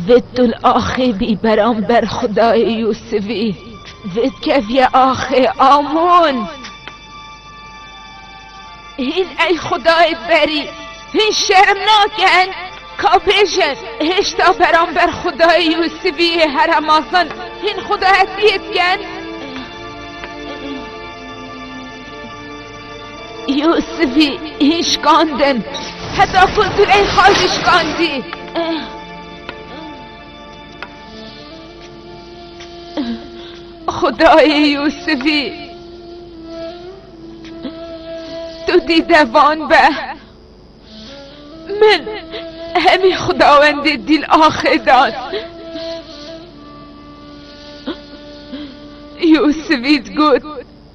Zittul axibî beramber xudayê Yûsivî zit keviye axê Amûn. Hîn ey xudayê berî hîn şerm nakin ka bêjin hêşta beramber xudayê Yûsivî heremasin hîn xudayetiyê dikin. Yûsifî hîn şikandin, heta ku Zileyxa jî şikandî. Xudayê Yûsifî tu dîde van be. Min hemî xudawendê dîl axê dan. Yûsifî digot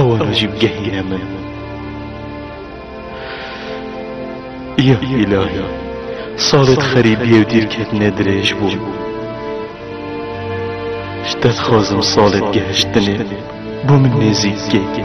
Ewana jî bigehîne min. Ya îlahî, salê di xerîbiyê û dîrketinê dirêj bû. Ji te dixwazim salê di gehiştinê bo min nêzîk bikî.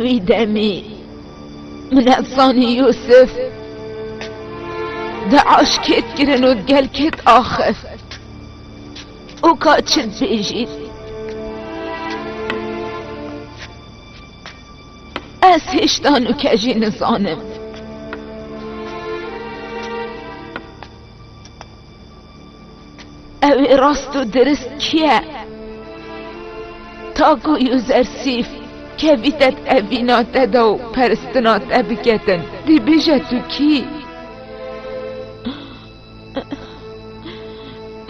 Wî demî min ev zanî Yûsif di aşkêt kirin û gel kêt axif û ka çi dibêjî ez hêşta nûke jî nizanim. Ew ê rast û dirist kî ye? Ta ku Yûzersîf kevîte tevîna te de û peristina te biketin, dî bêje tu kî?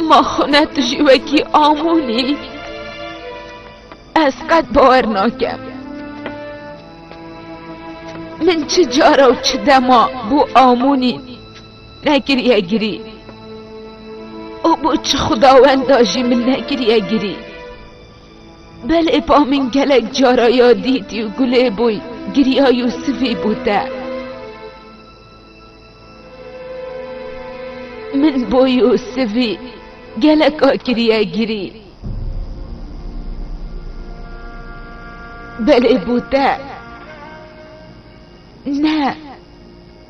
Ma xwe ne tu jî wekî Amûn î? Ez qet bawer nakim. Min çi cara û çi dema bû Amûnî. Negiriye girî. Û bo çi xudawenda jî min negiriye girî. Belê ba min gelek cara ya dîtî û gulê bûy giriyayî û sivî bû te. Min bûy û sivî geleka kiriye girî. Belê bû te. Ne.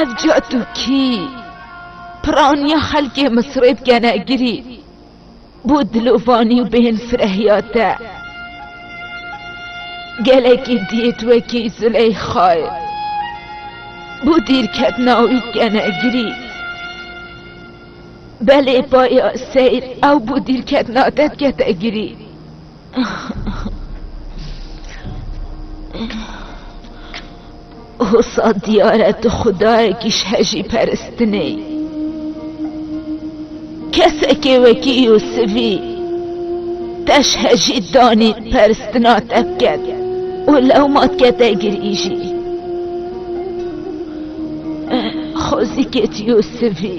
Ev cat û kî piraniya xelkê Misirê dikene girî bo dilovanî û bêhn firehiya te. Gelekî dît wekî Zileyxayê bo dîrketina wî dikene girî. Belê baya seyr ew bo dîrketina te dikete girî. Hosa diyar e tu xudayekî ji hejî peristinê. Kesekê wekî Yûsivî te ji hejî danî peristina te biket û lewma dikete girî jî. Xwezîkê ti Yûsivî.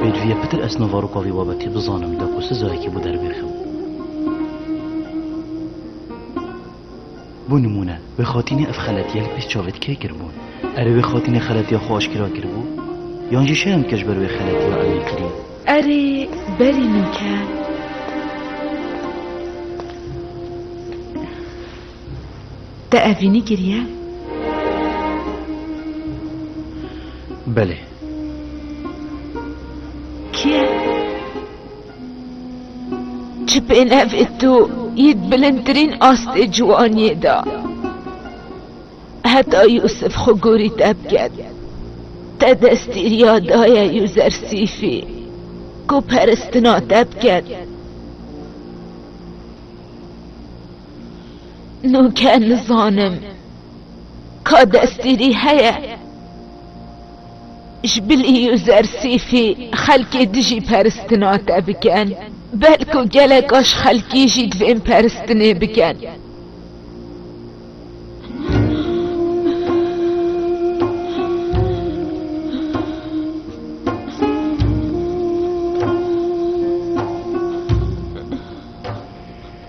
Pêdivîya pitir ez no varoka vî babetê bizanim da ku sizayekî bo derbê xew. Bo nimûne, wê xatînê ev xeletiya li pêş çavê ti kê kiribûn? Erê wê xatînê xeletiya xwe aşkera kiribû? Yan jî şerm dike ji ber wê xeletiya evê kirî? Erê berî min ke. Te evînî kiriye? Belê. Kî ye? Ji pênevê to yê di bilindtirîn astê ciwaniyê de. Heta Yûsif xwe gorî te biket. Te destî riya daye Yûzersîfî ku peristina te biket. Nûke nizanim ka destgîrî heye ji bilî Usersîfî xelkê dijî peristina te bikin, belku geleka ji xelkî jî divên peristinê bikin.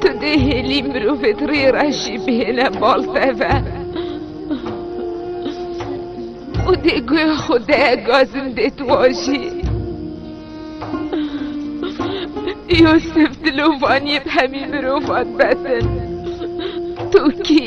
Tu dê hêlî mirovê di rê re jî bihêne bal teve. û dê guya xwe de gazin dê tu wajî. Yosef dilovaniyê bi hemî mirovan betin. Tu kî?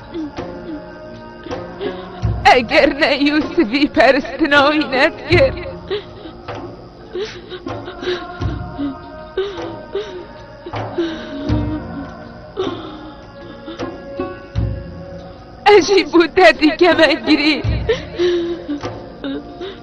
Eger ne Yûsivî peristina wî nedikir. Ez jî bû te dîkeme girî.